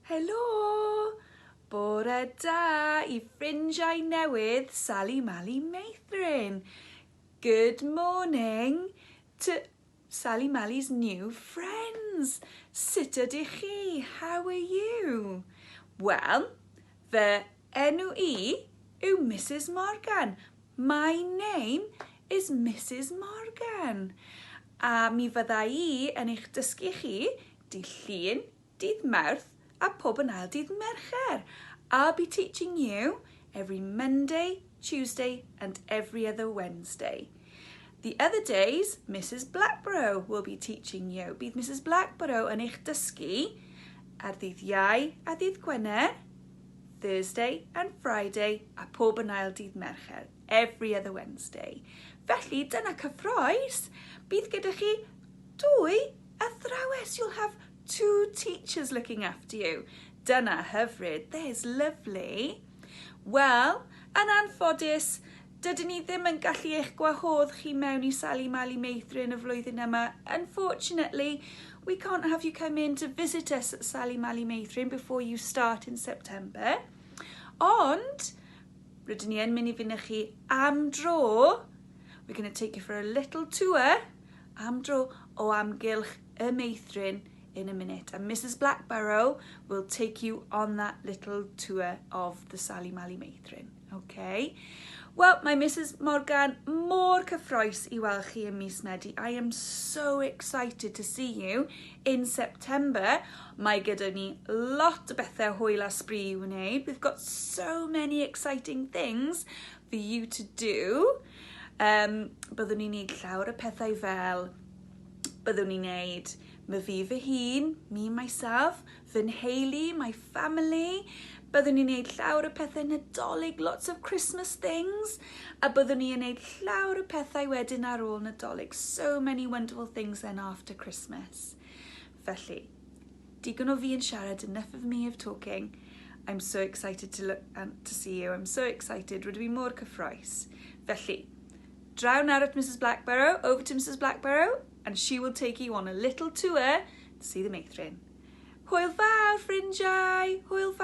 Helo! Bore da i ffrindiau newydd Sali Mali Meithrin. Good morning to Sali Mali's new friends. Sut ydych chi? How are you? Wel, fy enw i yw Mrs Morgan. My name is Mrs Morgan. A mi fydda i yn eich dysgu chi Dydd Llun, Dydd Mawrth a pob yn ail dydd Mercher. I'll be teaching you every Monday, Tuesday and every other Wednesday. The other days, Mrs Blackborough will be teaching you. Bydd Mrs Blackborough yn eich dysgu ar ddydd Iau a ddydd Gwener, Thursday and Friday a pob yn ail dydd Mercher, every other Wednesday. Felly, dyna cyffroes. Bydd gyda chi dwy Athrawes, you'll have two teachers looking after you. Dyna hyfryd, there's lovely. Wel, yn anffodus, dydyn ni ddim yn gallu eich gwahodd chi mewn i Sali Mali Meithrin y flwyddyn yma. Unfortunately, we can't have you come in to visit us at Sali Mali Meithrin before you start in September. Ond, rydyn ni yn mynd i fynychu am dro. We're going to take you for a little tour Am dro o amgylch y meithrin in a minute and Mrs Blackborough will take you on that little tour of the Sali Mali meithrin. Okay. Wel, mae Mrs Morgan mor cyffroes i weld chi ym mis Medi. I am so excited to see you in September. Mae gyda ni lot o bethau hwyl a sbri i wneud. We've got so many exciting things for you to do. Um, byddwn ni'n neud llawr y pethau fel, byddwn ni'n neud my fi fy hun, me, myself, fy nheulu, my family, byddwn ni'n neud llawr y pethau nadolig, lots of Christmas things, a byddwn ni'n neud llawr y pethau wedyn ar ôl nadolig, so many wonderful things then after Christmas. Felly, digon o fi yn siarad, enough of me of talking. I'm so excited to look and to see you, I'm so excited, rydw i mor cyffroes. Felly, draw nawr at Mrs Blackborough, over to Mrs Blackborough, and she will take you on a little tour to see the meithrin. Hwyl fawr, ffrindiau! Hwyl fawr!